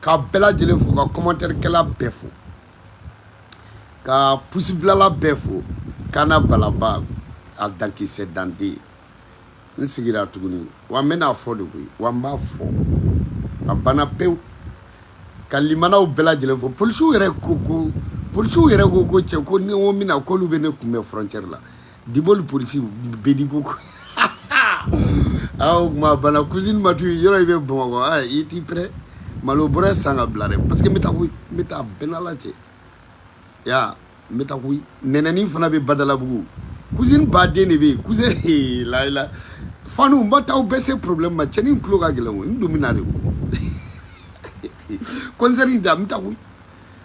ka bɛɛ lajɛlen fo ka kɔmantɛrikɛla bɛɛ fo ka pusibilala bɛɛ fo kana balaba a dankisɛ danden n sigira tuguni wa n bɛn'a fɔ de koyi wa n b'a fɔ a banna pewu ka limanaw bɛɛ lajɛlen fo polisiw yɛrɛ ko ko polisiw yɛrɛ ko ko cɛ ko ni n ko n bɛ na k'olu bɛ ne kunbɛn frontière la diboli polisi bɛɛ de ko a kuma banna cousine matu yɔrɔ i bɛ bamakɔ a i t'i prêt malo bɔrɛ san k'a bila dɛ parce que n bɛ taa koyi n bɛ taa a bɛ n n'ala cɛ ya n bɛ taa koyi nɛnɛni fana bɛ badalabugu cousine baden de bɛ yen cousine layila fanu n ba taa aw bɛ se problème ma cɛni n tulo ka gɛlɛn koyi n dun bɛ na de koyi concert in da n bɛ taa koyi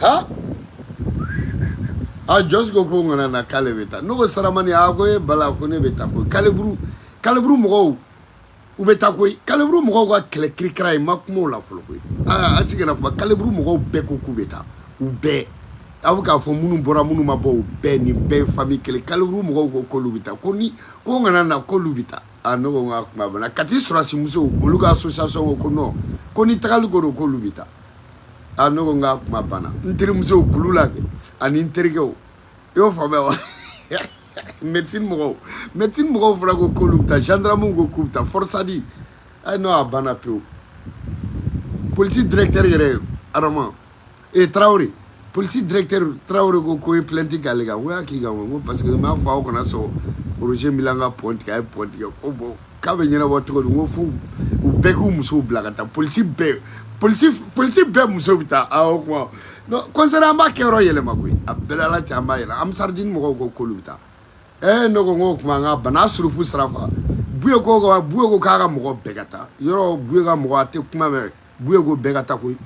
ha a jɔsi ko ko n kana na k'ale bɛ taa ne ko saramani a ko e bala ko ne bɛ taa koyi calibre calibre mɔgɔw u bɛ taa koyi calibre mɔgɔw ka kɛlɛ kirikira n ma kuma o la fɔlɔ koyi aa an sigila kuma calibre mɔgɔw bɛɛ ko k'u bɛ taa u bɛɛ aw bɛ k'a fɔ minnu bɔra minnu ma bɔ u bɛɛ nin bɛɛ ye famille kelen calibre mɔgɔw ko k'olu bɛ taa ko ne ko n kana na k'olu bɛ taa a ne ko n k'a kuma banna kati sɔrɔdasi musow olu ka association ko ko non ko ni tagali ko don k'olu bɛ taa a ne ko n k'a kuma banna n terimusow kulu la kɛ ani n terikɛw i y'o faamuya wa médecine mɔgɔw médecine mɔgɔw fana ko k'olu bɛ taa gendarmew ko k'u bɛ taa forsat ayi n ko a banna pewu polisi directeur yɛrɛ arama ee tarawele Polisi directeur tarawele ko k'u ye plainte k'ale kan k'u y'a k'i kan ko parce que n b'a fɔ aw kana sɔn oroze bila an ka pɔn tigɛ a ye pɔn tigɛ ko bon k'a bɛ ɲɛnabɔ cogo di n ko fo u bɛɛ k'u musow bila ka taa polisi bɛɛ polisi polisi bɛɛ muso bɛ taa awɔ kuma concert an b'a kɛyɔrɔ yɛlɛma koyi a bɛ n n'ala cɛ an b'a yɛlɛma amisardini mɔgɔw ko k'olu bɛ taa ɛɛ ne ko n ko o tuma an ka bana surufu sira fa buye ko buye ko k'a ka mɔgɔ bɛɛ ka taa ɲɔrɔ buye ka mɔgɔ a tɛ kuma mɛn Buye ko bɛɛ ka taa koyi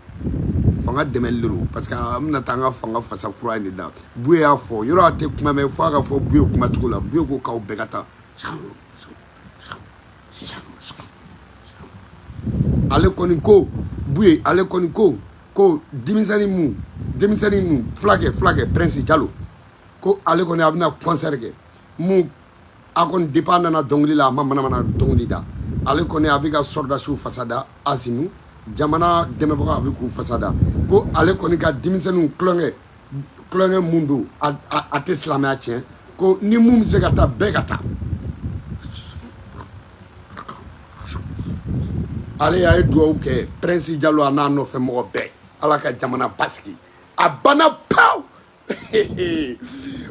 fanga dɛmɛli de don parce que an bɛna taa an ka fanga fasa kura in de da Buye y'a fɔ yɔrɔ a tɛ kuma mɛn fo a ka fɔ Buye kuma cogo la Buye ko k'aw bɛɛ ka taa ale kɔni ko Buye ale kɔni ko ko denmisɛnnin mun denmisɛnnin mun fulakɛ fulakɛ prince jalo ko ale kɔni a bɛna concert kɛ mun a kɔni depuis a nana dɔnkili la a ma manamana dɔnkili da ale kɔni a bɛ ka sɔrɔdasiw fasa da asimi jamana dɛmɛbaga a bɛ k'u fasa da ko ale kɔni ka denmisɛnninw tulonkɛ tulonkɛ mun don a tɛ silamɛya tiɲɛ ko ni mun bɛ se ka taa bɛɛ ka taa ale y'a ye dugawu kɛ prince jalo a n'a nɔfɛ mɔgɔ bɛɛ ala ka jamana basigi a banna pawu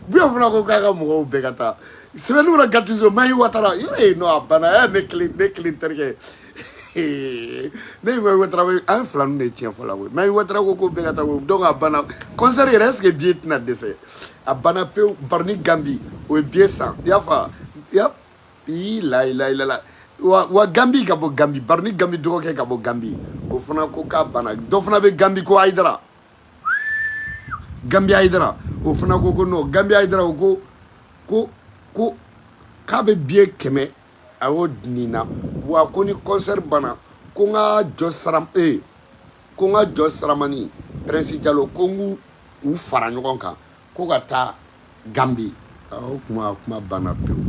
buya fana ko k'a ka mɔgɔw bɛɛ ka taa sebenikɔrɔ gatizo mayi watara yɔrɔ ye non a banna ɛ ne kelen ne kelen terikɛ ne ye mayi watara an ye fila ninnu de tiɲɛ fɔla koyi mayi watara ko ko bɛɛ ka taa koyi donc a banna concert yɛrɛ est ce que billet tɛna dɛsɛ a banna pewu baroni gambi o ye billet san i y'a faamuya ii layila ilala wa wa gambi ka bɔ gambi baroni gambi dɔgɔkɛ ka bɔ gambi o fana ko k'a banna dɔ fana bɛ gambi ko ayidara Gambi Aidara o fana ko ko non Gambi Aidara o ko ko ko k'a bɛ billet kɛmɛ a y'o di nin na wa ko ni concert banna ko n ka jɔ sara ee ko n ka jɔ saramani Prince Jalo ko n k'u u fara ɲɔgɔn kan ko ka taa gambi o kuma kuma banna pewu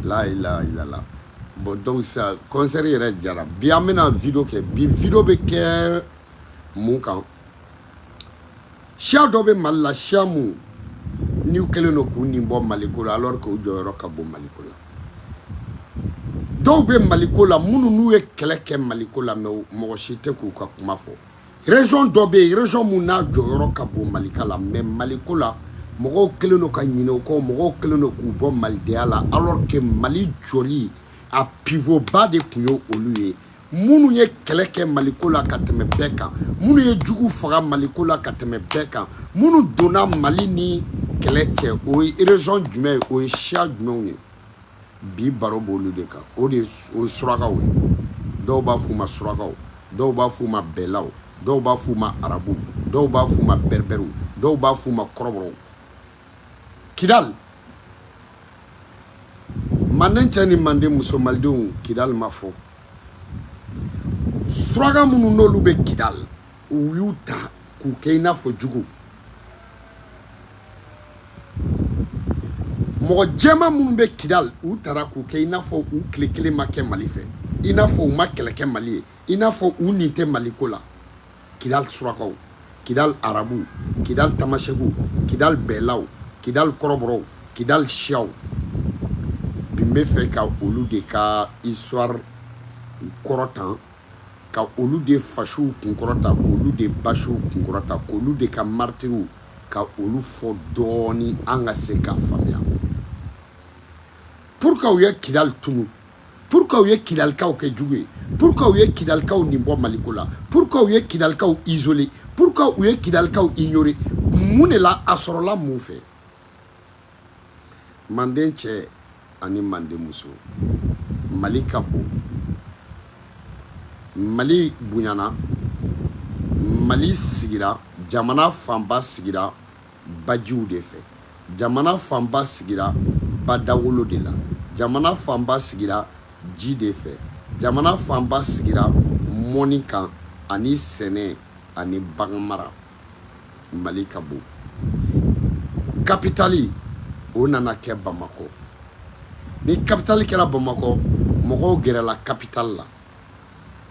layila ilala bon donc ça concert yɛrɛ jara bi an bɛna video kɛ bi video bɛ kɛ mun kan siya dɔ bɛ mali la siya mun n'u kɛlen don k'u nin bɔ maliko la alors que u jɔyɔrɔ ka bon maliko la dɔw bɛ maliko la minnu n'u ye kɛlɛ kɛ maliko la mais mɔgɔ si tɛ k'u ka kuma fɔ Région dɔ bɛ yen région mun n'a jɔyɔrɔ ka bon Malika la mais Maliko la mɔgɔw kɛlen don ka ɲinɛ o kɔ mɔgɔw kɛlen don k'u bɔ malidenya la alors que Mali jɔli a pivot ba de tun ye olu ye minnu ye kɛlɛ kɛ Maliko la ka tɛmɛ bɛɛ kan minnu ye jugu faga Maliko la ka tɛmɛ bɛɛ kan minnu donna Mali ni kɛlɛ cɛ o ye région jumɛn ye o ye siya jumɛnw ye bi baro b'olu de kan o de o surakaw dɔw b'a f'u ma surakaw dɔw b'a f'u ma bɛlaw dɔw b'a f'u ma arabu dɔw b'a f'u ma bɛrɛbɛriw dɔw b'a f'u ma kɔrɔbɔrɔw kidali manden cɛ ni manden muso malidenw kidali ma fɔ suraka minnu n'olu bɛ kidali u y'u ta k'u kɛ i n'a fɔ jugu mɔgɔ jɛman minnu bɛ kidal u tara k'u kɛ i n'a fɔ u tile kelen ma kɛ mali fɛ i n'a fɔ u ma kɛlɛ kɛ mali ye i n'a fɔ u nin tɛ maliko la kidal surakaw kidal arabuw kidal tamasɛkiw kidal bɛlaw kidal kɔrɔbɔrɔw kidal siyaw bi n bɛ fɛ ka olu de ka histoire kɔrɔta ka olu de fasuw kunkɔrɔta k'olu de basuw kunkɔrɔta k'olu de ka maritiriw ka olu fɔ dɔɔnin an ka se k'a faamuya pour que u ye kidali tunu pour que u ye kidalikaw kɛ jugu ye pour que u ye kidalikaw nin bɔ maliko la pour que u ye kidalikaw isoler pour que u ye kidalikaw ignorer mun de la a sɔrɔla mun fɛ manden cɛ ani manden muso mali ka bon mali bonyana mali sigira jamana fanba sigira bajiw de fɛ jamana fanba sigira badawolo de la jamana fanba sigira ji de fɛ jamana fanba sigira mɔni kan ani sɛnɛ ani bagan mara mali ka bon kapitali o nana kɛ bamakɔ ni kapitali kɛra bamakɔ mɔgɔw gɛrɛla kapitali la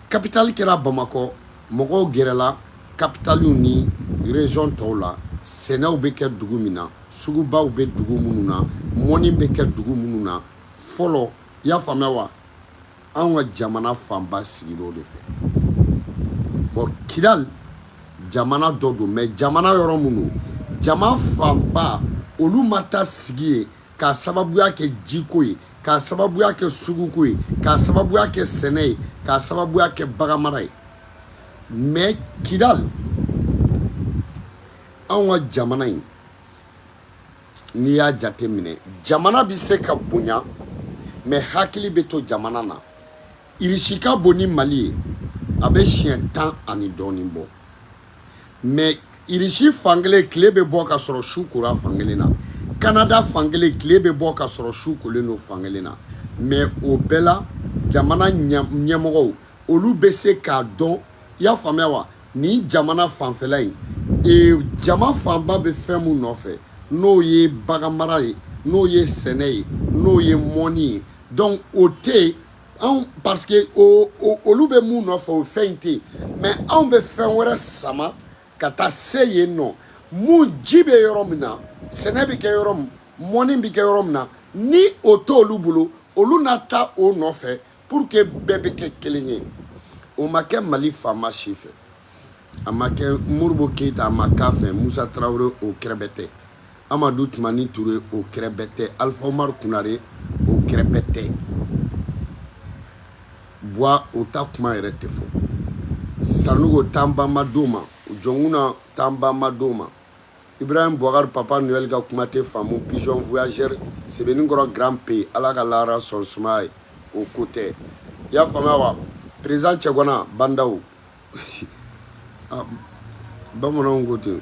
kapitali kɛra bamakɔ mɔgɔw gɛrɛla kapitaliw ni rezɔn tɔw la sɛnɛw bɛ kɛ dugu min na sugubaw bɛ dugu minnu na mɔni bɛ kɛ dugu minnu na fɔlɔ i y'a faamuya wa anw ka jamana fanba sigila o de fɛ bɔn kidali jamana dɔ don mɛ jamana yɔrɔ minnu jama fanba olu ma taa sigi yen k'a sababuya kɛ jiko ye k'a sababuya kɛ suguko ye k'a sababuya kɛ sɛnɛ ye k'a sababuya kɛ baganmara ye mɛ kidali anw ka jamana in n'i y'a jate minɛ jamana bɛ se ka bonya mɛ hakili bɛ to jamana na irisi ka bon ni mali ye a bɛ siɲɛ tan ani dɔɔnin bɔ mɛ irisi fankelen tile bɛ bɔ ka sɔrɔ su kora fankelen na kanada fankelen tile bɛ bɔ ka sɔrɔ su kolen don fankelen na mɛ o bɛɛ la jamana ɲɛmɔgɔw olu bɛ se k'a dɔn i y'a faamuya wa nin jamana fanfɛla in jama fanba bɛ fɛn mun nɔfɛ n'o ye bagan mara ye n'o ye sɛnɛ ye n'o ye mɔni ye donc o tɛ yen anw parce que olu bɛ mun nɔfɛ o fɛn in tɛ yen mais anw bɛ fɛn wɛrɛ sama ka taa se yen nɔ mun ji bɛ yɔrɔ min na sɛnɛ bɛ kɛ yɔrɔ min mɔni bɛ kɛ yɔrɔ min na ni o t'olu bolo olu na taa o nɔfɛ pour que bɛɛ bɛ kɛ kelen ye o ma kɛ mali faama si fɛ a ma kɛ modibo keyita a ma k'a fɛ musa tarawele o kɛrɛbɛtɛ amadu tumani ture o kɛrɛbɛtɛ alifa umaru konare o kɛrɛbɛtɛ buwa o ta kuma yɛrɛ tɛ fɔ sanɔgɔ tanbanma don ma jɔnkunda tanbanma don ma Ibrahim Boubacar Papa Noël ka kuma tɛ faamu pigeon voyageur Sebenikɔrɔ grand P Ala ka lahara sɔn sumaya ye o ko tɛ i y'a faamuya wa président cɛgana bandaw ah, bamananw ko ten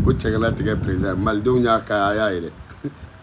ko cɛgana tigɛ président malidenw y'a ka a y'a ye dɛ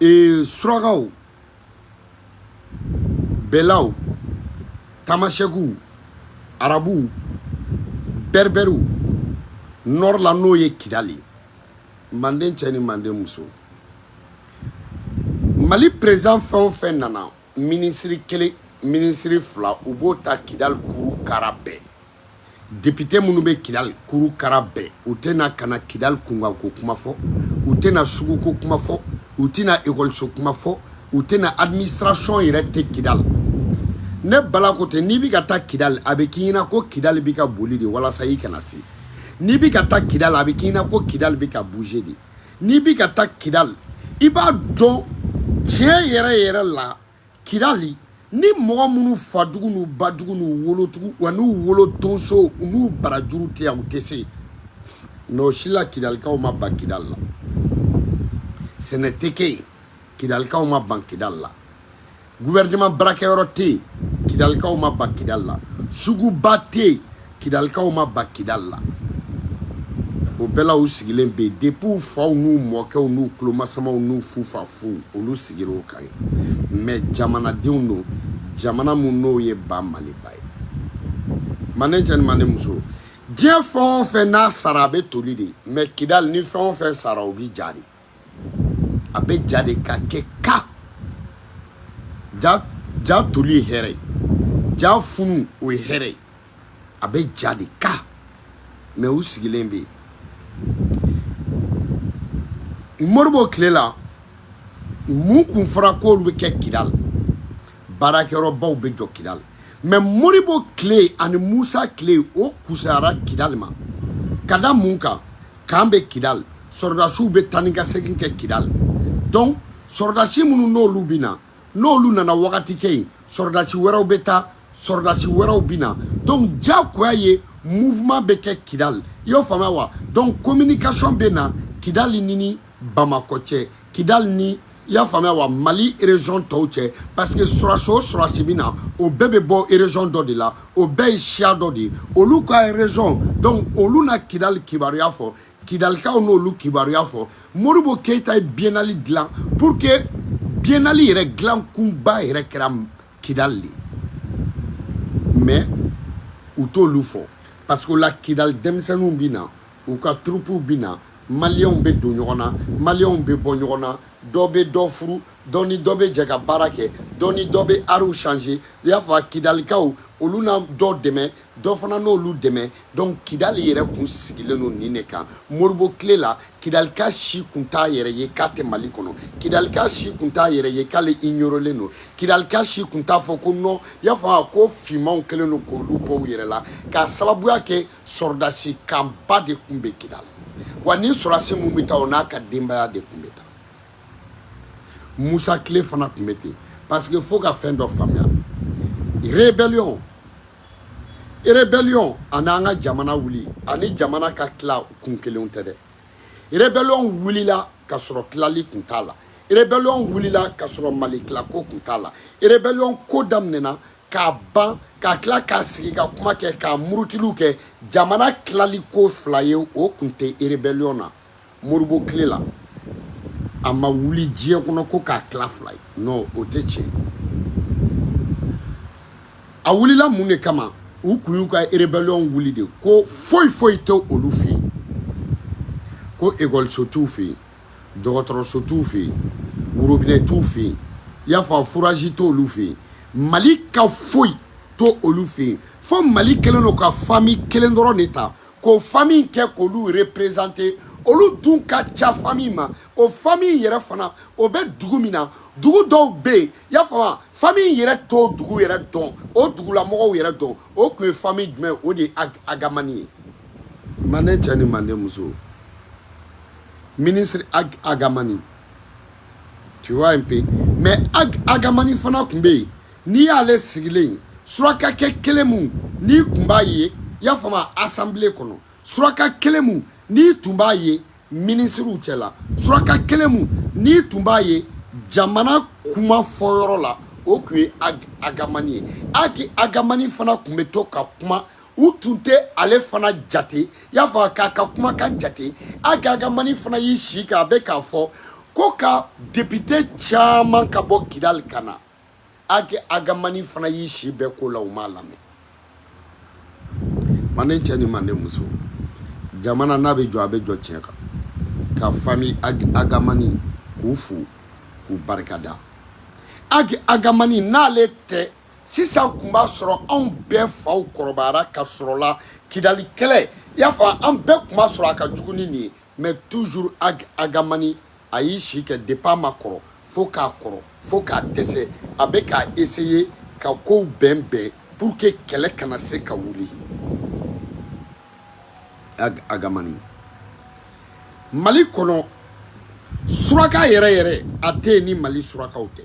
ee surakaw bɛlaw tamasɛkiw arabuw bɛribɛriw nord la n'o ye kidali ye manden cɛ ni manden muso mali président fɛn o fɛn nana minisiri kelen minisiri fila u b'o ta kidali kuru kara bɛɛ depite minnu bɛ kidali kuru kara bɛɛ u tɛ na ka na kidali kunkanko kuma fɔ u tɛna suguko kuma fɔ u tɛna ekɔliso kuma fɔ u tɛna administration yɛrɛ tɛ kidali ne bala ko tɛ n'i bɛ ka taa kidali a bɛ k'i ɲɛna ko kidali bɛ ka boli de walasa i kana se n'i bɛ ka taa kidali a bɛ k'i ɲɛna ko kidali bɛ ka bouger de n'i bɛ ka taa kidali i b'a dɔn tiɲɛ yɛrɛ yɛrɛ la kidali ni mɔgɔ minnu fadugu n'u badugu n'u wolodugu wa n'u wolo tonso n'u barajuru tɛ yan u tɛ se n'o si la kidalikaw ma ban kidal la sɛnɛ tɛ kɛ yen kidalikaw ma ban kidal la guvɛrɛnɛman baarakɛyɔrɔ tɛ yen kidalikaw ma ban kidal la suguba tɛ yen kidalikaw ma ban kidali la o bɛɛ la u sigilen bɛ yen depuis u faw n'u mɔkɛw n'u tulomasamaw n'u fufafuw olu sigira o kan ye mais jamanadenw don jamana mun n'o ye ba maliba ye manden cɛ ni manden muso diɲɛ fɛn o fɛn n'a sara a bɛ toli de mais kidali ni fɛn o fɛn sara o bɛ ja de a bɛ ja de ka kɛ ka jaa toli ye hɛrɛ ye jaa funu o ye hɛrɛ ye a bɛ ja de ka mais u sigilen bɛ yen modibo tile la mun kun fɔra k'olu bɛ kɛ kidal baarakɛyɔrɔbaw bɛ jɔ kidal mais modibo tile ani musa tile o kusayara kidal ma ka da mun kan k'an bɛ kidali sɔrɔdasiw bɛ taa ni ka segin kɛ kidali donc sɔrɔdasi minnu n'olu bɛ na n'olu nana wagati kɛ yen sɔrɔdasi wɛrɛw bɛ taa sɔrɔdasi wɛrɛw bɛ na donc diyagoya ye mouvement bɛ kɛ kidali i y'o faamuya wa donc communication bɛ na kidali ni ni bamakɔ cɛ kidali ni i y'a faamuya wa mali région tɔw cɛ parce que sɔrɔdasi o sɔrɔdasi bɛ na o bɛɛ bɛ bɔ région dɔ de la o bɛɛ ye siya dɔ de ye olu ka région donc olu na kidali kibaruya fɔ kidalikaw n'olu kibaruya fɔ modibo keyita ye biennale dilan pour que biennale yɛrɛ dilan kunba yɛrɛ kɛra kidali de mais u t'olu fɔ parce que o la kidali denmisɛnninw bɛ na u ka turupuw bɛ na maliyɛnw bɛ don ɲɔgɔn na maliyɛnw bɛ bɔ ɲɔgɔn na dɔ bɛ dɔ furu dɔ ni dɔ bɛ jɛ ka baara kɛ dɔ ni dɔ bɛ ariw change i y'a fɔ kidalikaw olu na dɔ dɛmɛ dɔ fana n'olu dɛmɛ donc kidali yɛrɛ kun sigilen don nin de kan modibo tile la kidalika si kun t'a yɛrɛ ye k'a tɛ mali kɔnɔ kidalika si kun t'a yɛrɛ ye k'ale ignorelen don kidalika si kun t'a fɔ ko non i y'a fɔ ko finmanw kɛlen don k'olu bɔ u yɛrɛ la k'a sababuya kɛ sɔrɔdasi kanba de tun bɛ kidali wa ni sɔrɔdasi mun bɛ taa o n'a ka denbaya de tun bɛ taa musa tile fana tun bɛ ten parce que fo ka fɛn dɔ faamuya rébellion rébellion ani an ka jamana wuli ani jamana ka tila kun kelenw tɛ dɛ rébellion wulila ka sɔrɔ tilali kun t'a la rébellion wulila ka sɔrɔ mali tilako kun t'a la rébellion ko daminɛna k'a ban ka tila k'a sigi ka kuma kɛ k'a murutiliw kɛ jamana tilali ko fila ye o kun tɛ erebɛliyɔn na modibo tile la a ma wuli diɲɛ kɔnɔ ko k'a tila fila ye non o tɛ tiɲɛ a wulila mun de kama u kun y'u ka erebɛliyɔn wuli de ko foyi foyi tɛ olu fɛ yen ko ekɔliso t'u fɛ yen dɔgɔtɔrɔso t'u fɛ yen worobinɛ t'u fɛ yen i y'a faamu furaji t'olu fɛ yen mali ka foyi t'olu fɛ yen fo mali kelen don ka fami kelen dɔrɔn de ta k'o fami kɛ k'olu represente olu dun ka ca fami ma o fami yɛrɛ fana o bɛ dugu min na dugu dɔw bɛ yen y'a faamu fami yɛrɛ t'o dugu yɛrɛ dɔn o dugulamɔgɔw yɛrɛ dɔn o tun ye fami jumɛn o de ye agamani ye manden cɛ ni manden muso minisiri ag agamani tu vois un peu mais ag agamani fana tun bɛ yen n'i y'ale sigilen ye surakakɛ kelen mun n'i tun b'a ye i y'a faamu asanbile kɔnɔ suraka kelen mun n'i tun b'a ye minisiriw cɛla suraka kelen mun n'i tun b'a ye jamana kuma fɔyɔrɔ la o tun ye ag agamani ye ag agamani fana tun bɛ to ka kuma u tun tɛ ale fana jate i y'a fɔ k'a ka kuma ka jate ag agamani fana y'i si kɛ a bɛ k'a fɔ ko ka depite caman ka bɔ kidali ka na ag agamani fana y'i si bɛɛ k'o la u m'a lamɛn manden cɛ ni manden muso jamana n'a bɛ jɔ a bɛ jɔ tiɲɛ kan ka fami ag agamani k'u fo k'u barikada ag agamani n'ale tɛ sisan kun b'a sɔrɔ anw bɛɛ faw kɔrɔbayara ka sɔrɔ la kidali kɛlɛ i y'a fɔ an bɛɛ kun b'a sɔrɔ a ka jugu ni nin ye mais toujours ag hamani a y'i si kɛ depuis a ma kɔrɔ fo k'a kɔrɔ fo k'a dɛsɛ a bɛ k'a essayer ka kow bɛn bɛn pour que kɛlɛ kana se ka wuli ag hamani mali kɔnɔ suraka yɛrɛ yɛrɛ a tɛ yen ni mali surakaw tɛ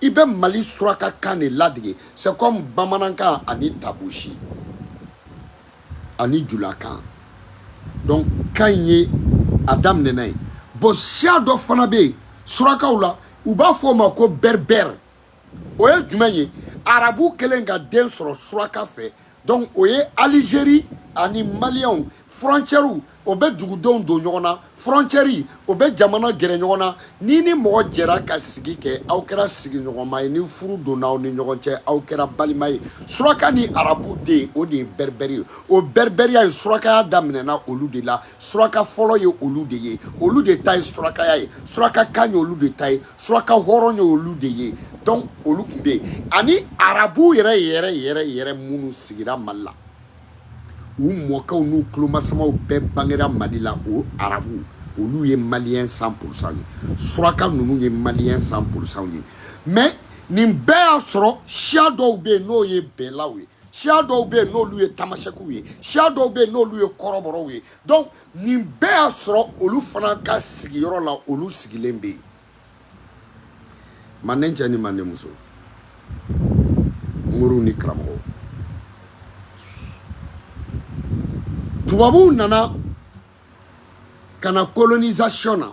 i bɛ mali suraka kan de ladege c'est comme bamanankan ani tabusi ani julakan donc kan in ye a daminɛna ye bon siya dɔ fana bɛ yen surakaw la u b'a fɔ o ma ko berbère o ye jumɛn ye arabu kelen ka den sɔrɔ suraka fɛ donc o ye algérie ani malienw frontièrew o bɛ dugudenw don ɲɔgɔn na frontière o bɛ jamana gɛrɛ ɲɔgɔn na ni ni mɔgɔ jɛra ka sigi kɛ aw kɛra sigiɲɔgɔnma ye ni furu donna aw ni ɲɔgɔn cɛ aw kɛra balima ye suraka ni arabu den o de ye berbère ye o bɛribɛriya ye surakaya daminɛna olu de la suraka fɔlɔ ye olu de ye olu de ta ye surakaya ye suraka kan ye olu de ta ye suraka hɔrɔn ye olu de ye donc olu tun bɛ yen ani arabu yɛrɛ yɛrɛ yɛrɛ yɛrɛ minnu sigira mali la u mɔkɛw n'u tulomasamaw bɛɛ bangera mali la o arabu olu ye malien cent pour cent ye suraka ninnu ye malien cent pour cent ye mais nin bɛɛ y'a sɔrɔ siya dɔw bɛ yen n'o ye bɛɛlaw ye siya dɔw bɛ yen n'olu ye tamasɛkiw ye siya dɔw bɛ yen n'olu ye kɔrɔbɔrɔw ye donc nin bɛɛ y'a sɔrɔ olu fana ka sigiyɔrɔ la olu sigilen bɛ yen manden cɛ ni manden muso moriw ni karamɔgɔw tubabuw nana ka na colonisation na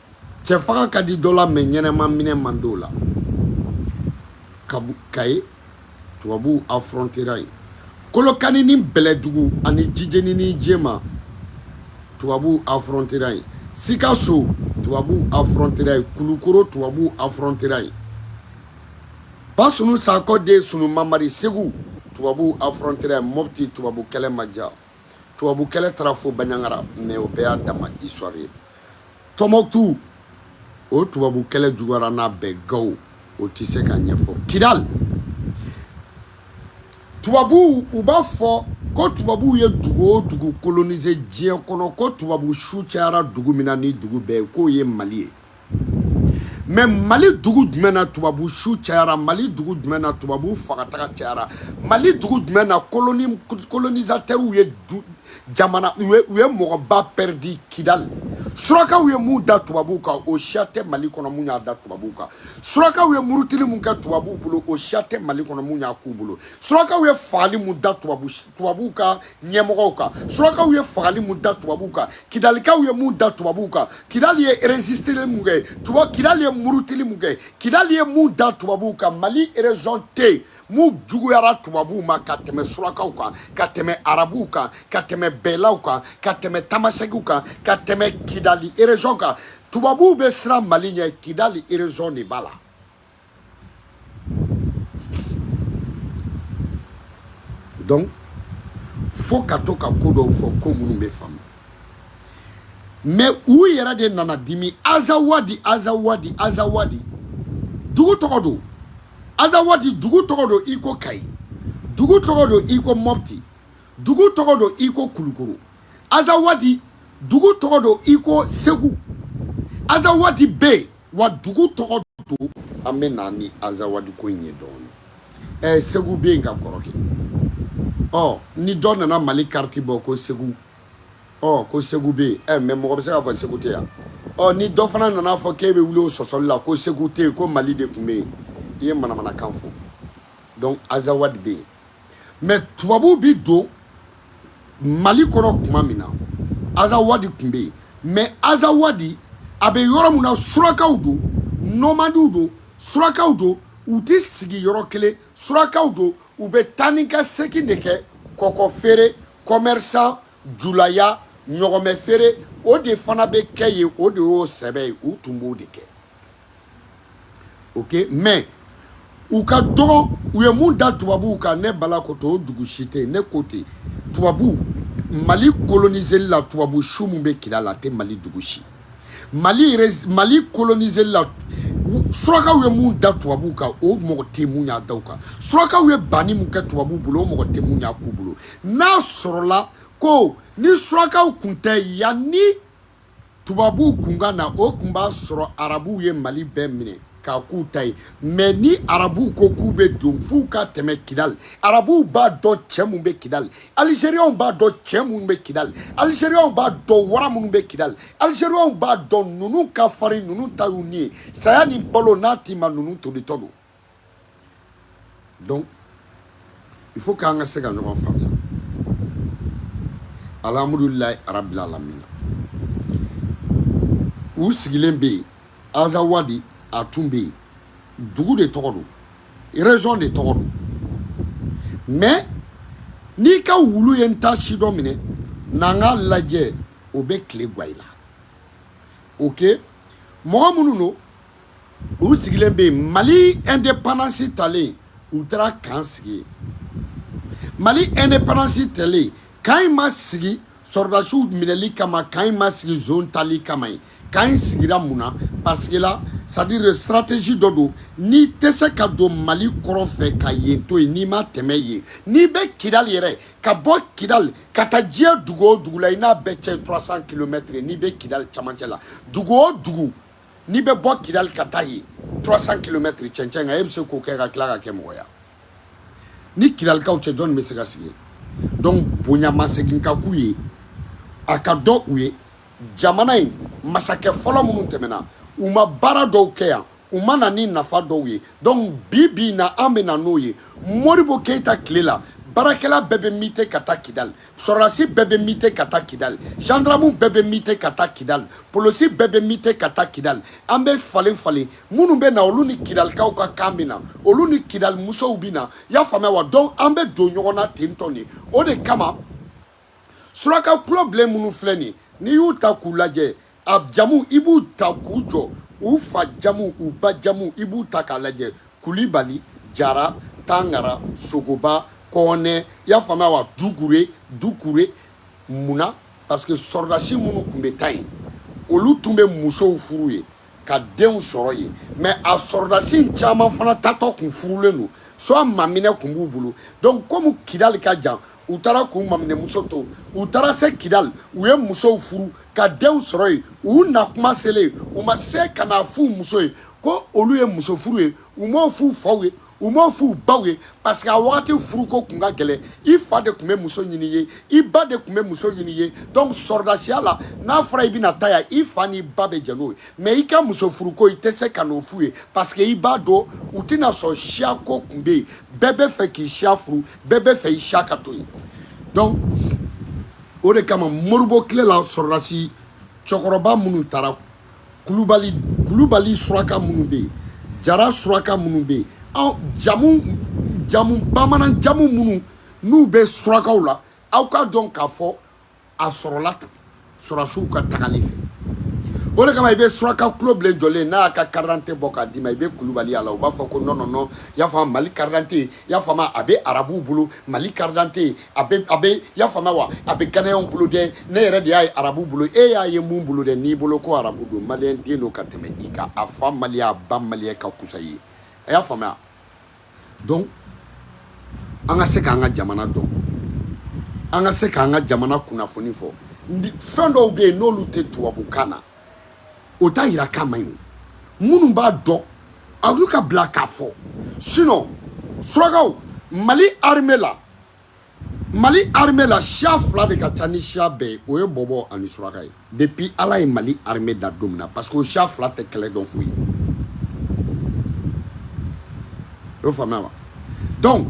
cɛ faga ka di dɔ la mais ɲɛnama minɛ man di o la kayi tubabuw afrontera yen kolokani ni bɛlɛdugu ani jijeni ni jema tubabuw afrontera yen sikaso tubabuw afrontera yen kulukoro tubabuw afrontera yen basunu sakɔ den sunu mamari segu tubabuw afrontera yen mɔpti tubabu kɛlɛ ma ja tubabu kɛlɛ taara fo baɲagara mais o bɛɛ y'a dama histoire ye tɔnbɔkutu o tubabu kɛlɛ juguyara n'a bɛɛ gawo o tɛ se ka ɲɛfɔ kidali tubabuw u b'a fɔ ko tubabuw ye dugu o dugu coloniser diɲɛ kɔnɔ ko tubabu su cayara dugu min na ni dugu bɛɛ ye k'o ye mali ye mɛ mali dugu jumɛn na tubabu su cayara mali dugu jumɛn na tubabu fagataga cayara mali dugu jumɛn na kolonisatɛriw ye jamana u ye mɔgɔba pɛridi kidali surakaw ye mun da tubabu kan o siya tɛ mali kɔnɔ mun y'a da tubabu kan surakaw ye murutili mun kɛ tubabu bolo o siya tɛ mali kɔnɔ mun y'a k'u bolo surakaw ye fagali mun da tubabu tubabu kan ɲɛmɔgɔw kan surakaw ye fagali mun da tubabuw kan kidalikaw ye mun da tubabuw kan kidali ye resisteli mun kɛ tuba kidali ye murutili mun kɛ kidali ye mun da tubabuw kan mali erezɔn tɛ yen mun juguyara tubabuw ma ka tɛmɛ surakaw kan ka tɛmɛ arabuw kan ka tɛmɛ bɛlaw kan ka tɛmɛ tamasegiw kan ka tɛmɛ kidali erezɔn kan tubabuw bɛ siran mali ɲɛ kidali erezɔn de b'a la donc fo ka to ka ko dɔw fɔ ko minnu bɛ faamu mɛ u yɛrɛ de nana dimi azawadi azawadi azawadi dugu tɔgɔ don azawadi dugu tɔgɔ don i ko kayi dugu tɔgɔ don i ko mɔpti dugu tɔgɔ don i ko kulukoro azawadi dugu tɔgɔ don i ko segu azawadi bɛ yen wa dugu tɔgɔ don an bɛ na ni azawadi ko in ye dɔɔni ɛɛ segu bɛ yen ka kɔrɔ kɛ ɔ ni dɔ nana mali kariti bɔ ko segu ɔ ko segu bɛ yen ɛ mɛ mɔgɔ bɛ se k'a fɔ segu tɛ yan ɔ ni dɔ fana nana a fɔ k'e bɛ wuli o sɔsɔli la ko segu tɛ yen ko mali de tun bɛ yen i ye manamanakan fɔ donc azawadi bɛ yen mɛ tubabuw bi don mali kɔnɔ tuma min na azawadi tun bɛ yen mɛ azawadi a bɛ yɔrɔ min na surakaw don nɔmadiw don surakaw don u tɛ sigi yɔrɔ kelen surakaw don u bɛ taa ni ka segin de kɛ kɔkɔ feere kɔmɛrisan julaya ɲɔgɔmɛ feere o de fana bɛ kɛ yen o de y'o sɛbɛ ye u tun b'o de kɛ ok mɛ u ka dɔgɔ u ye mun da tubabuw kan ne bala ko to o dugu si tɛ ne ko ten tubabuw mali koloniseli la tubabu su min bɛ kidali la a tɛ mali dugu si mali mali koloniseli la surakaw ye mun da tubabuw kan o mɔgɔ tɛ mun y'a da u kan surakaw ye banni mun kɛ tubabuw bolo o mɔgɔ tɛ mun y'a k'u bolo n'a sɔrɔla ko ni surakaw kun tɛ yanni tubabuw kun ka na o kun b'a sɔrɔ arabuw ye mali bɛɛ minɛ k'a k'u ta ye mɛ ni arabuw ko k'u bɛ don f'u ka tɛmɛ kidali arabuw b'a dɔn cɛ minnu bɛ kidali alizeriyaw b'a dɔn cɛ minnu bɛ kidali alizeriyaw b'a dɔn wara minnu bɛ kidali alizeriyaw b'a dɔn ninnu ka farin ninnu ta y'u ni ye saya ni balo n'a t'i ma ninnu tolitɔ don donc il faut k'an ka se ka ɲɔgɔn faamuya alhamdulilayi arabil alamina u sigilen bɛ yen azawadi a tun bɛ yen dugu de tɔgɔ don région de tɔgɔ don mais n'i ka wulu ye n ta si dɔ minɛ n'an k'a lajɛ o bɛ tile gwan i la ok mɔgɔ minnu don u sigilen bɛ yen mali indépendance talen u taara kan sigi mali indépendance talen kan in ma sigi sɔrɔdasiw minɛli kama kan in ma sigi zone tali kama ye kan in sigira mun na parce que là c'est-à-dire stratégie dɔ don i tɛ se ka don mali kɔrɔn fɛ ka yen to yen n'i ma tɛmɛ yen n'i bɛ kidali yɛrɛ ka bɔ kidali ka taa diɲɛ dugu o dugu la i n'a bɛɛ cɛ 300 kilomɛtiri n'i bɛ kidali camancɛ la dugu o dugu n'i bɛ bɔ kidali ka taa yen 300 kilomɛtiri cɛncɛn kan e bɛ se k'o kɛ ka tila ka kɛ mɔgɔ ye ni kidalikaw tɛ jɔnni bɛ se ka sigi donc bonya ma segin ka k'u ye a ka dɔn u ye jamana in masakɛ fɔlɔ minnu tɛmɛna u ma baara dɔw kɛ yan u ma na ni nafa dɔw ye donc bi bi in na an bɛ na n'o ye modibo keyita tile la baarakɛla bɛɛ bɛ mite ka taa kidali sɔrɔdasi bɛɛ bɛ mite ka taa kidali jandaramu bɛɛ bɛ mite ka taa kidali polosi bɛɛ bɛ mite ka taa kidali an bɛ falen falen minnu bɛ na olu ni kidalikaw ka kan bɛ na olu ni kidali musow bɛ na y'a faamuya wa donc an bɛ don ɲɔgɔn na ten tɔn de o de kama suraka golo bilen minnu filɛ nin n'i y'u ta k'u lajɛ a jamu i b'u ta k'u jɔ u fa jamu u ba jamu i b'u ta k'a lajɛ kulibali jara tangara sogoba kɔnɛ y'a faamuya wa dukure dukure mun na parce que sɔrɔdasi minnu tun bɛ taa yen olu tun bɛ musow furu yen ka denw sɔrɔ yen mais a sɔrɔdasi caman fana taatɔ kun furulen don soit maminɛ kun b'u bolo donc komi kidali ka jan u taara k'u maminɛmuso to u taara se kidali u ye musow furu ka denw sɔrɔ yen u na kuma selen u ma se ka n'a f'u muso ye ko olu ye muso furu ye u m'o f'u faw ye u m'o f'u baw ye parce que a wagati furuko tun ka gɛlɛn i fa de tun bɛ muso ɲini i ye i ba de tun bɛ muso ɲini i ye donc sɔrɔdasiya la n'a fɔra i bɛna taa yan i fa n'i ba bɛ jɛn n'o ye mais i ka muso furuko i tɛ se ka n'o f'u ye parce que i b'a dɔn u tɛna sɔn siyako tun bɛ yen bɛɛ bɛ fɛ k'i siya furu bɛɛ bɛ fɛ i siya ka to yen donc o de kama modibo tile la sɔrɔdasi cɛkɔrɔba minnu taara kulubali kulubali suraka minnu bɛ yen jara suraka minnu bɛ yen aw jamu jamu bamanan jamu minnu n'u bɛ surakaw la aw k'a dɔn k'a fɔ a sɔrɔla sɔrɔdasiw ka tagali fɛ o de kama i bɛ suraka tulo bilen jɔlen n'a y'a ka karidante bɔ k'a d'i ma i bɛ kulubali a la u b'a fɔ ko non non non y'a faamu mali karidante y'a faamu a bɛ arabuw bolo mali karidante a bɛ a bɛ y'a faamu wa a bɛ ganayɛnw bolo dɛ ne yɛrɛ de y'a ye arabuw bolo e y'a ye mun bolo dɛ n'i bolo ko arabu don maliyɛn den don ka tɛmɛ i kan a fa maliyɛn a ba maliyɛn ka kusa i ye a y'a faamuya donc an ka se k'an ka jamana dɔn an ka se k'an ka jamana kunnafoni fɔ fɛn dɔw bɛ yen n'olu tɛ tubabukan na o t'a yira k'a man ɲi minnu b'a dɔn olu ka bila k'a fɔ sinon surakaw mali arime la mali armée la siya fila de ka ca ni siya bɛɛ o ye bɔbɔ ani suraka ye depuis ala ye mali armée da don min na parce que o siya fila tɛ kɛlɛ dɔn foyi o faamuya wa donc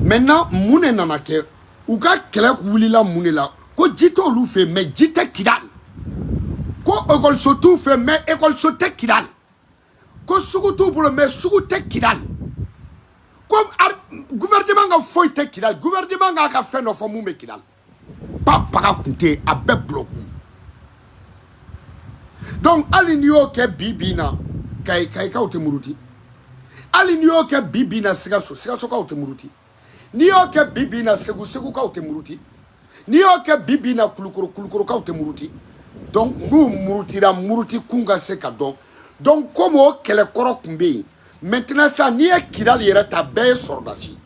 maintenant mun de nana kɛ u ka kɛlɛ wulila mun de la ko ji t'olu fɛ mais ji tɛ kidali ko ekɔliso t'u fɛ mais ekɔliso tɛ kidali ko sugu t'u bolo mais sugu tɛ kidali ko gouvernement ka foyi tɛ kidali gouvernement k'a ka fɛn dɔ fɔ mun bɛ kidali ba paga tun tɛ yen a bɛɛ bulɔku donc hali n'i y'o kɛ bi bi in na kayikaw tɛ muruti hali n'i y'o kɛ bi bi in na sikaso sikasokaw tɛ muruti n'i y'o kɛ bi bi in na segu segukaw tɛ muruti n'i y'o kɛ bi bi in na kulukoro kulukorokaw tɛ muruti donc n'u murutira muruti kun ka se ka dɔn donc komi o kɛlɛkɔrɔ tun bɛ yen maintenant sa n'i ye kidali yɛrɛ ta bɛɛ ye sɔrɔdasi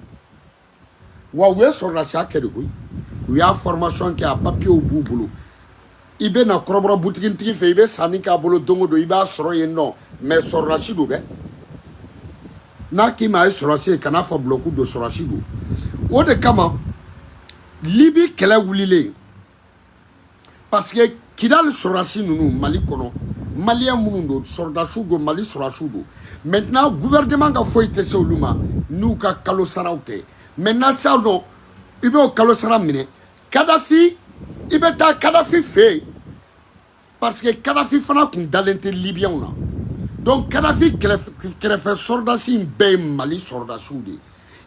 wa u ye sɔrɔdasiya kɛ de koyi u y'a formation kɛ a papiyew b'u bolo i bɛ na kɔrɔbɔrɔ butigintigi fɛ i bɛ sanni k'a bolo don o don i b'a sɔrɔ yen non mais sɔrɔdasi don dɛ n'a k'i ma a ye sɔrɔdasi ye kan'a fɔ bulɔku don sɔrɔdasi don o de kama libi kɛlɛ wulilen parce que kidali sɔrɔdasi ninnu mali kɔnɔ maliyɛn minnu don sɔrɔdasiw don mali sɔrɔdasiw don maintenant gouvernement ka foyi tɛ se olu ma n'u ka kalo saraw tɛ maintenant sisan nɔ i b'o kalo sara minɛ kadafi i bɛ taa kadafi fɛ yen parce que kadafi fana tun dalen tɛ libiyɛnw na donc kadafi kɛrɛfɛ sɔrɔdasi in bɛɛ ye mali sɔrɔdasiw de ye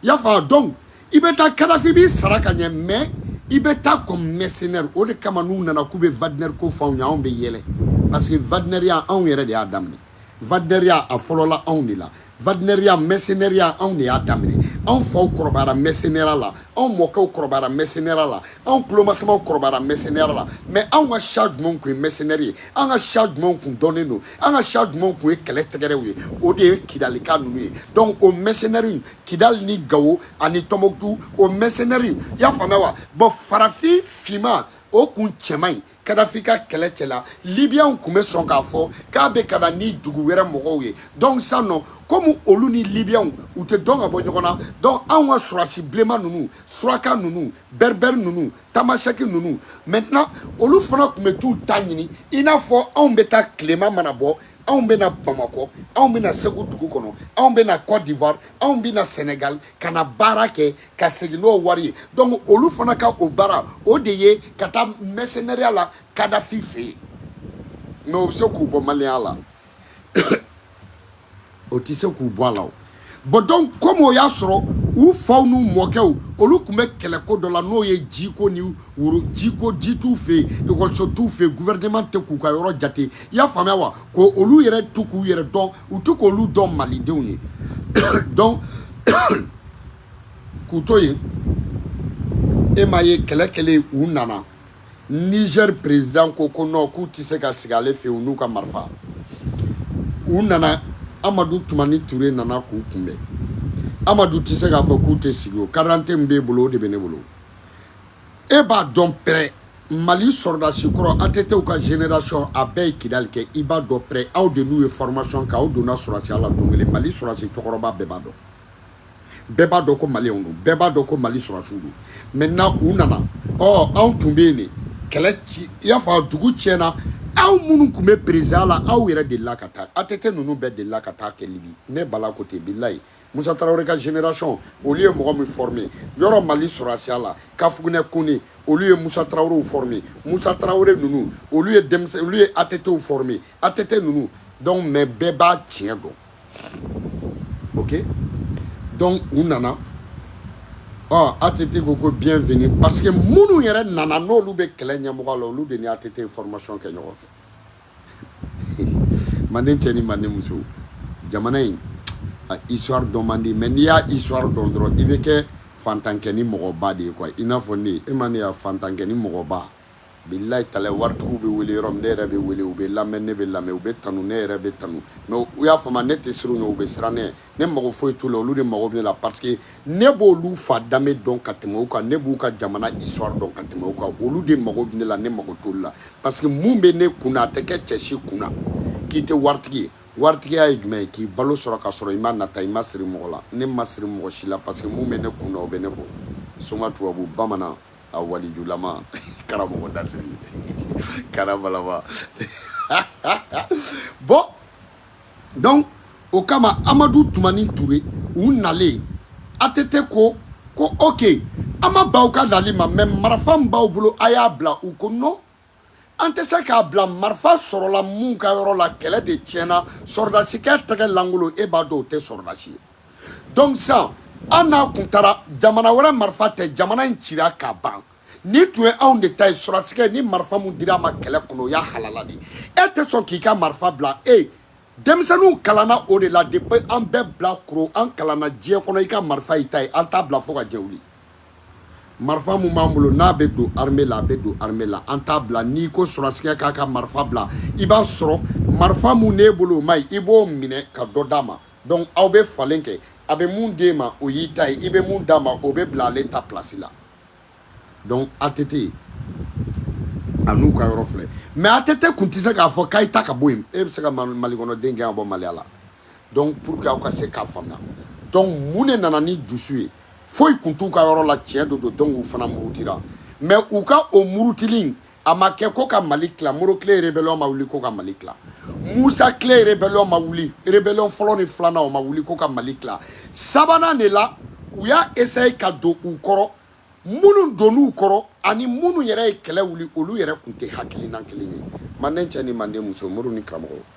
i y'a faamu donc i bɛ taa kadafi b'i sara ka ɲɛ mais i bɛ taa comme mercenaire o de kama n'u nana k'u bɛ wagner ko fɔ anw ye anw bɛ yɛlɛ parce que wagnerya anw yɛrɛ de y'a daminɛ Wagneriya a fɔlɔla anw de la wagneriya mɛsenɛriya anw de y'a daminɛ anw faw kɔrɔbayara mɛsenɛra la anw mɔkɛw kɔrɔbayara mɛsenɛra la anw tulomasamaw kɔrɔbayara mɛsenɛra la mais anw ka siya jumɛnw kun ye mɛsenɛri ye an ka siya jumɛnw kun dɔnnen don an ka siya jumɛnw kun ye kɛlɛ tɛgɛrɛw ye o de ye kidalika ninnu ye donc o mɛsenɛri kidali ni gawo ani tɔmɔkutu o mɛsenɛri i y'a faamuya wa bon farafin finman o kun cɛ man ɲi kadafi ka kɛlɛcɛ la libiyanw tun bɛ sɔn k'a fɔ k'a bɛ ka na ni dugu wɛrɛ mɔgɔw ye donc sisan ɔ komi olu ni libiyanw u tɛ dɔn ka bɔ ɲɔgɔn na donc anw ka sɔrɔdasi bilenman ninnu suraka ninnu bɛrɛbɛri ninnu tamasɛki ninnu maintenant olu fana tun bɛ t'u ta ɲini i n'a fɔ anw bɛ taa tilema mana bɔ anw bɛ na bamakɔ anw bɛ na segu dugu kɔnɔ anw bɛ na cote d'ivoire anw bɛ na senegal ka na baara kɛ ka segin n'o wari ye donc olu fana ka o baara o de ye ka taa mɛsenɛriya la kadafi fɛ yen mais o bɛ se k'u bɔ maliyɛnya la o tɛ se k'u bɔ a la o bon donc komi o y'a sɔrɔ u faw n'u mɔkɛw olu tun bɛ kɛlɛko dɔ la n'o ye jiko ni woro jiko ji t'u fɛ yen ekɔliso t'u fɛ yen gouvernement tɛ k'u ka yɔrɔ jate i y'a faamuya wa ko olu yɛrɛ tɛ k'u yɛrɛ dɔn u tɛ k'olu dɔn malidenw ye donc k'u to yen e m'a ye kɛlɛ kɛlen u nana niger président ko ko non k'u tɛ se ka sigi ale fɛ yen u n'u ka marifa u nana amadu tumani ture nana k'u kunbɛn amadu tɛ se k'a fɔ k'u tɛ sigi o karadante min b'e bolo o de bɛ ne bolo e b'a dɔn pɛrɛ mali sɔrɔdasi kɔrɔ atɛtɛ ka génération a bɛɛ ye kidali kɛ i b'a dɔn pɛrɛ aw de n'u ye formation kɛ aw donna sɔrɔdasiya la don kelen mali sɔrɔdasi cɛkɔrɔba bɛɛ b'a dɔn bɛɛ b'a dɔn ko maliyɛnw don bɛɛ b'a dɔn ko mali sɔrɔdasiw don maintenant u nana ɔ anw tun bɛ yen de kɛlɛ ci i y'a fɔ dugu tiɲɛna aw minnu tun bɛ présidence la aw yɛrɛ delila ka taa atɛtɛ ninnu bɛɛ delila ka taa kɛ libi ne bala ko ten bilayi musa tarawele ka génération olu ye mɔgɔ min forme yɔrɔ mali sɔrɔdasiya la kafugunɛ kone olu ye musa tarawelew forme musa tarawele ninnu olu ye denmisɛn olu ye atetew forme atete ninnu donc mais bɛɛ b'a tiɲɛ dɔn ok donc u nana ɔ atete ko ko bienvenue parce que minnu yɛrɛ nana n'olu bɛ kɛlɛ ɲɛmɔgɔya la olu de ni atete formation kɛ ɲɔgɔn fɛ manden cɛ ni manden muso jamana in a histoire dɔn man di mais n'i y'a histoire dɔn dɔrɔn i bɛ kɛ fantankɛnin mɔgɔba de ye quoi i n'a fɔ ne e ma ne ye wa fantankɛnin mɔgɔba bilayi talayi waritigiw bɛ wele yɔrɔ min ne yɛrɛ bɛ wele u bɛ lamɛn ne bɛ lamɛn u bɛ tanu ne yɛrɛ bɛ tanu mais u y'a faamu ne tɛ siran u ɲɛ u bɛ siran ne ne mago foyi t'u la olu de mago bɛ ne la parce que ne b'olu fa danbe dɔn ka tɛmɛ u kan ne b'u ka jamana histoire dɔn ka tɛmɛ u kan olu de mago bɛ ne la ne mago t'olu la parce que mun bɛ ne kun na a tɛ kɛ cɛ si kun na k'i tɛ waritigi ye waritigiya ye jumɛn ye k'i balo sɔrɔ ka sɔrɔ i ma nata i ma siri mɔgɔ la ne ma siri mɔgɔ si la parce que mun bɛ ne kun na o bɛ ne bɔ soma tubabu bamanan a walijulama karamɔgɔ dasiri karabalaba bɔn donc o kama amadu tumani ture u nalen ATT ko ko ok an ma ban aw ka nali ma mais marifa min b'aw bolo a y'a bila u ko non an tɛ se k'a bila marifa sɔrɔla mun ka yɔrɔ la kɛlɛ de tiɲɛna sɔrɔdasikɛ tɛgɛ lankolon e b'a dɔn o tɛ sɔrɔdasi ye donc sisan an n'a kun taara jamana wɛrɛ marifa tɛ jamana in cira ka ban ni tun ye anw de ta ye sɔrɔdasikɛ ni marifa mun dira a ma kɛlɛ kɔnɔ o y'a halala de e tɛ sɔn k'i ka marifa bila e denmisɛnninw kalanna o de la depuis an bɛɛ bilakoro an kalanna diɲɛ kɔnɔ i ka marifa y'i ta ye an t'a bila fo ka diɲɛ wuli marifa mun b'an bolo n'a bɛ don armée la a bɛ don armée la an t'a bila n'i ko sɔrɔdasikɛ k'a ka marifa bila i b'a sɔrɔ marifa mun n'e bolo o man ɲi i b'o minɛ ka dɔ d'a ma donc aw bɛ falen kɛ a bɛ mun d'e ma o y'i ta ye i bɛ mun d'a ma o bɛ bila ale ta place la donc ATT a n'u ka yɔrɔ filɛ mais ATT kun tɛ se k'a fɔ k'a ye taa ka bɔ yen e bɛ se ka Mali kɔnɔ den gɛn ka bɔ Maliya la donc pour que aw ka se k'a faamuya donc mun de nana ni dusu ye foyi kun t'u ka yɔrɔ la tiɲɛ de don donc u fana murutira mais u ka o murutili in a ma kɛ ko ka mali tila modibo kile rebellion ma wuli ko ka mali tila musa kile rebellion ma wuli rebellion fɔlɔ ni filanan o ma wuli ko ka mali tila sabanan de la u y'a essaye ka don u kɔrɔ minnu donn'u kɔrɔ ani minnu yɛrɛ ye kɛlɛ wuli olu yɛrɛ kun tɛ hakilina kelen ye manden cɛ ni manden muso muru ni karamɔgɔ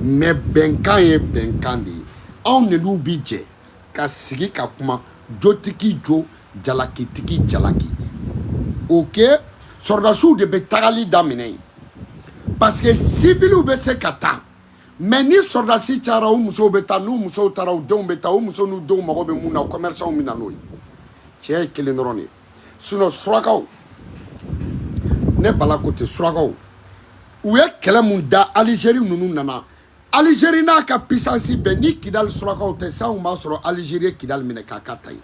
mais bɛnkan ye bɛnkan de ye anw de n'u bi jɛ ka sigi ka kuma jotigi jo jalakitigi jalaki ok sɔrɔdasiw de bɛ tagali daminɛ yen parce que siviliw bɛ se ka taa mais ni sɔrɔdasi cayara u musow bɛ taa n'u musow taara u denw bɛ taa u musow n'u denw mago bɛ mun na kɔmɛrisanw bɛ na n'o ye tiɲɛ ye kelen dɔrɔn de ye sinon surakaw ne bala ko tɛ surakaw u ye kɛlɛ mun da alizeri ninnu nana alizeri n'a ka pisansi bɛɛ ni kidali surakaw tɛ sisan kun b'a sɔrɔ alizeri ye kidali minɛ k'a k'a ta ye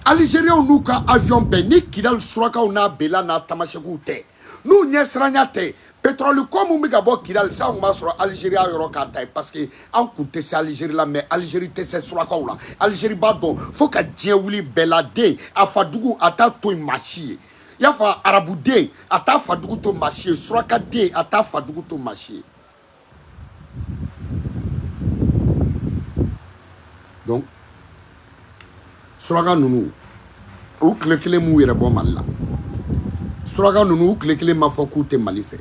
alizeriyaw n'u ka avion bɛɛ ni kidali surakaw n'a bela n'a tamasɛkiw tɛ n'u ɲɛsiranya tɛ Petroli ko min bɛ ka bɔ Kidali sa tun b'a sɔrɔ Alizeri y'a yɔrɔ k'a ta ye parce que an kun tɛ se Alizeri la mais Alizeri tɛ se surakaw la Alizeri b'a dɔn fo ka diɲɛ wuli bɛla den a fa dugu a t'a to yen maa si ye y'a fɔ arabu den a t'a fa dugu to maa si ye suraka den a t'a fa dugu to maa si ye donc suraka ninnu u tile kelen m'u yɛrɛ bɔ mali la suraka ninnu u tile kelen m'a fɔ k'u tɛ mali fɛ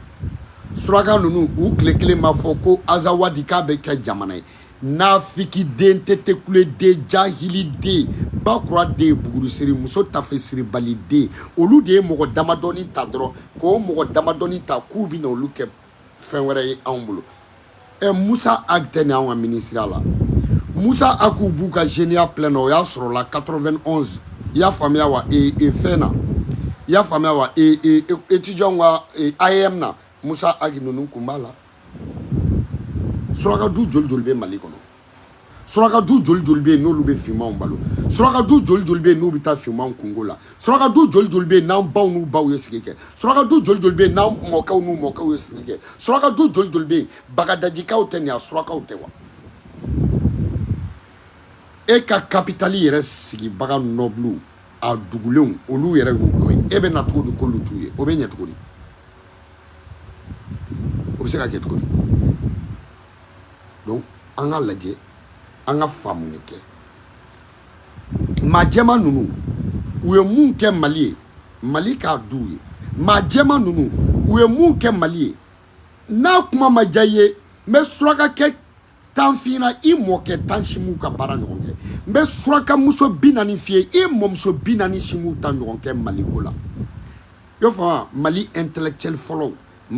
suraka ninnu u tile kelen m'a fɔ ko azawadi k'a bɛ kɛ jamana ye nafiki den tɛtekule den jahili den bakura den bugurusiri muso tafe siribali den olu de ye mɔgɔ damadɔni ta dɔrɔn k'o mɔgɔ damadɔni ta k'u bɛna olu kɛ fɛn wɛrɛ ye anw bolo ɛ musa agi tɛ ni anw ka minisiriya la musa agiw b'u ka zeniya plein na o y'a sɔrɔ la 91 i y'a faamuya wa e, e fɛn na i y'a faamuya wa e, e, e étudiant ka e, AEEM na musa agi ninnu kun b'a la suraka du joli joli bɛ mali kɔnɔ suraka du joli joli bɛ yen n'olu bɛ finmanw balo suraka du joli joli bɛ yen n'u bɛ taa finmanw kungo la suraka du joli joli bɛ yen n'an baw n'u baw ye sigi kɛ suraka du joli joli bɛ yen n'an mɔkɛw n'u mɔkɛw ye sigi kɛ suraka du joli joli bɛ yen bagadajikaw tɛ nin a surakaw tɛ wa e ka kapitali yɛrɛ sigibaga nɔbulu a dugulenw olu yɛrɛ y'u dɔ ye e bɛ na cogo di k'olu t'u ye o bɛ ɲɛ cogo di o bɛ se ka kɛ cogo di donc an ka lajɛ an ka faamu kɛ maa jɛma ninnu u ye mun kɛ mali ye mali k'a d'u ye maa jɛma ninnu u ye mun kɛ mali ye n'a kuma ma diya i ye n bɛ surakakɛ tan f'i na i mɔkɛ tan si m'u ka baara ɲɔgɔn kɛ n bɛ surakamuso bi naani f'i ye i mɔmuso bi naani si m'u ta ɲɔgɔn kɛ mali ko la i y'a faamu mali intellectuel fɔlɔw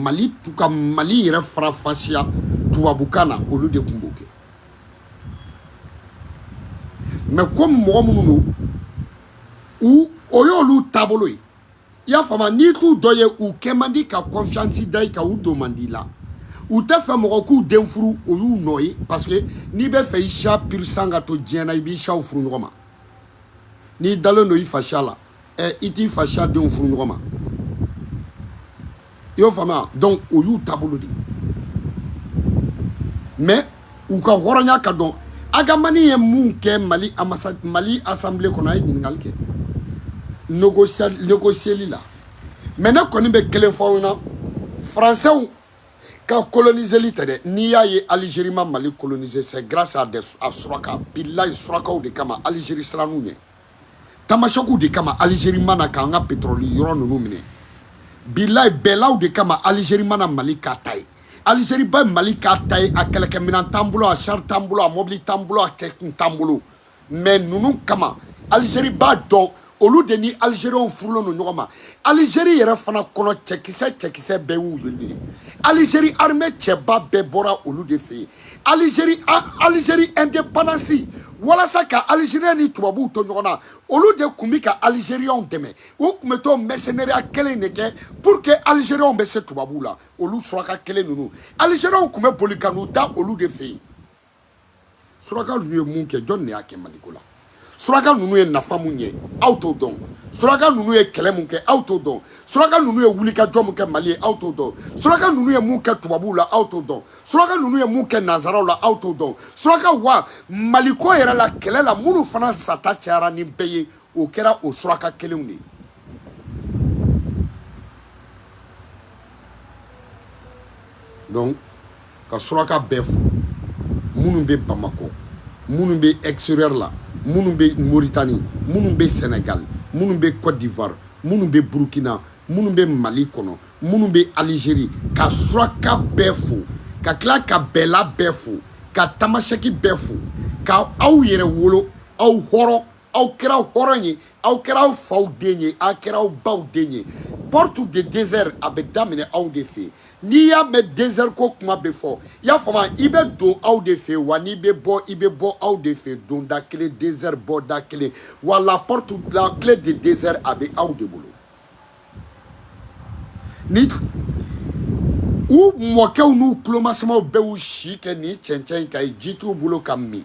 hali ka mali yɛrɛ farafasiya tubabukan na olu de tun b'o kɛ mais comme mɔgɔ minnu don o y'olu taabolo ye i y'a faamu n'i t'u dɔ ye u kɛ man di ka kɔnfiyansi da i kan u don man di la u tɛ fɛ mɔgɔ k'u den furu o y'u nɔ ye parce que n'i bɛ fɛ i siya pur-sang ka to diɲɛ na i b'i siyaw furu ɲɔgɔn ma n'i dalen don i fasiya la ɛ i t'i fasiya denw furu ɲɔgɔn ma i y'o faamuya donc o y'u taabolo de ye mais u ka hɔrɔnya ka dɔn ag hamani ye mun kɛ mali amasa mali asanbile kɔnɔ a ye ɲininkali kɛ négocieli la mais ne kɔni bɛ kelen fɔ aw na français ka coloniseli tɛ dɛ n'i y'a ye algérie ma mali coloniser c'est grâce à des à suraka bilayi surakaw de kama algérie siran'u ɲɛ tamasɛkiw de kama alizeri ma na k'an ka petrɔli yɔrɔ ninnu minɛ bilayi bɛɛlaw de kama alizeri mana mali k'a ta ye alizeri ba mali k'a ta ye a kɛlɛkɛminɛn t'an bolo a sari t'an bolo a mɔbili t'an bolo a kɛkun t'an bolo mɛ ninnu kama alizeri b'a dɔn olu de ni alizeriyɛnw furulen don ɲɔgɔn ma alizeri yɛrɛ fana kɔnɔ cɛkisɛ cɛkisɛ bɛɛ y'u ye alizeri armɛ cɛba bɛɛ bɔra olu de fɛ yen Algérie Algérie indépendance walasa ka Algérien ni tubabuw to ɲɔgɔn na olu de tun bɛ ka Algériens dɛmɛ u tun bɛ to mercenariat kelen de kɛ pour que Algériens bɛ se tubabuw la olu suraka kelen ninnu Algériens tun bɛ boli ka n'u da olu de fɛ yen suraka ninnu ye mun kɛ jɔn de y'a kɛ Maliko la suraka ninnu ye nafa mun ɲɛ aw t'o dɔn suraka ninnu ye kɛlɛ mun kɛ aw t'o dɔn suraka ninnu ye wulikajɔ mun kɛ mali ye aw t'o dɔn suraka ninnu ye mun kɛ tubabuw la aw t'o dɔn suraka ninnu ye mun kɛ nanzaraw la aw t'o dɔn suraka wa maliko yɛrɛ la kɛlɛ la minnu fana sata cayara ni bɛɛ ye o kɛra o suraka kelenw de ye donc ka suraka bɛɛ fo minnu bɛ bamakɔ minnu bɛ extérieur la minnu bɛ moritani minnu bɛ senegal minnu bɛ cote d'ivoire minnu bɛ burkina minnu bɛ mali kɔnɔ minnu bɛ algérie ka suraka bɛɛ fo ka tila ka bɛɛla bɛɛ fo ka tamasɛki bɛɛ fo ka aw yɛrɛwolo aw hɔrɔn aw kɛra hɔrɔn ye aw kɛra aw faw den ye aw kɛra aw baw den ye porte de désert a bɛ daminɛ aw de fɛ n'i y'a mɛn désert ko kuma bɛ fɔ i y'a faamu i bɛ don aw de fɛ wa n'i bɛ bɔ i bɛ bɔ aw de fɛ donda kelen désert bɔda kelen wa la porte la clé de désert a bɛ aw de bolo ni u mɔkɛw n'u tulomasamaw bɛɛ y'u si kɛ nin cɛncɛn in kan yen ji t'u bolo ka min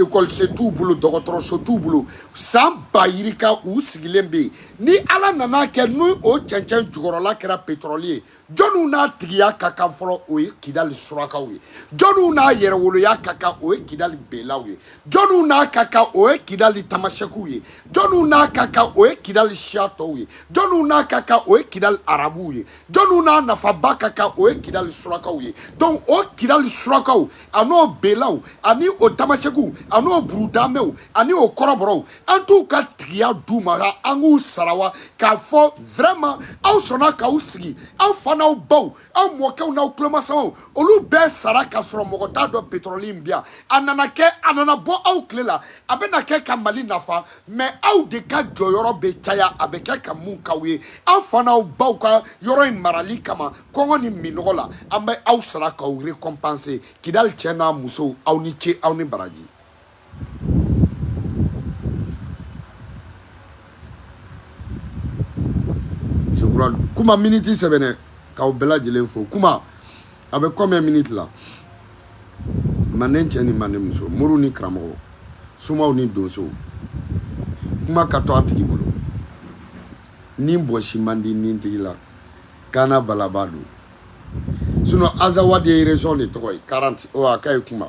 ekɔlise t'u bolo dɔgɔtɔrɔso t'u bolo san ba yirika u sigilen bɛ yen ni ala nan'a kɛ ni o cɛncɛn jukɔrɔla kɛra petɔrɔli ye jɔniw n'a tigiya ka kan fɔlɔ o ye kidali surakaw ye jɔniw n'a yɛrɛwoloya ka kan o ye kidali belaw ye jɔniw n'a ka kan o ye kidali tamasɛkiw ye jɔniw n'a ka kan o ye kidali siya tɔw ye jɔniw n'a ka kan o ye kidali arabuw ye jɔnniw n'a nafaba ka kan o ye kidali surakaw ye donc o kidali surakaw an'o belaw ani o tamasɛkiw an'o burudamɛw ani o kɔrɔbɔrɔw an t'u ka tigiya d'u ma ka an k'u sara wa k'a fɔ vraiment aw sɔnna k'aw sigi aw fa n'aw baw aw mɔkɛw n'aw tulomasamaw olu bɛɛ sara k'a sɔrɔ mɔgɔ t'a dɔn petrɔli in bi yan a nana kɛ a nana bɔ aw tile la a bɛna kɛ ka mali nafa mais aw de ka jɔyɔrɔ bɛ caya a bɛ kɛ ka mun k'aw ye aw fa n'aw baw ka yɔrɔ in marali kama kɔngɔ ni minnɔgɔ la an bɛ aw sara k'aw récompenser kidali cɛ n'a musow aw ni ce aw ni baraji kuma miniti sɛbɛnɛ k'aw bɛɛ lajɛlen fo kuma a bɛ combien minutes la manden cɛ ni manden muso moriw ni karamɔgɔ somaw ni donsow kuma ka to a tigi bolo ni bɔsi man di ni tigi la kana balaba don sinon azawadi ye région de tɔgɔ ye 40 o a ka ye kuma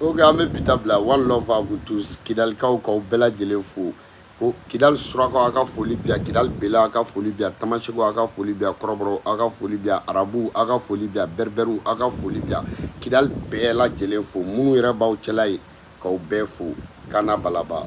ok an bɛ bi ta bila one love à vous tous kidalikaw k'aw bɛɛ lajɛlen fo ko kidali surakaw aw ka foli bi yan kidali bɛla aw ka foli bi yan tamasɛkiw aw ka foli bi yan kɔrɔbɔrɔw aw ka foli bi yan arabuw aw ka foli bi yan bɛribɛriw aw ka foli bi yan kidali bɛɛ lajɛlen fo minnu yɛrɛ b'aw cɛla yen k'aw bɛɛ fo kana balaba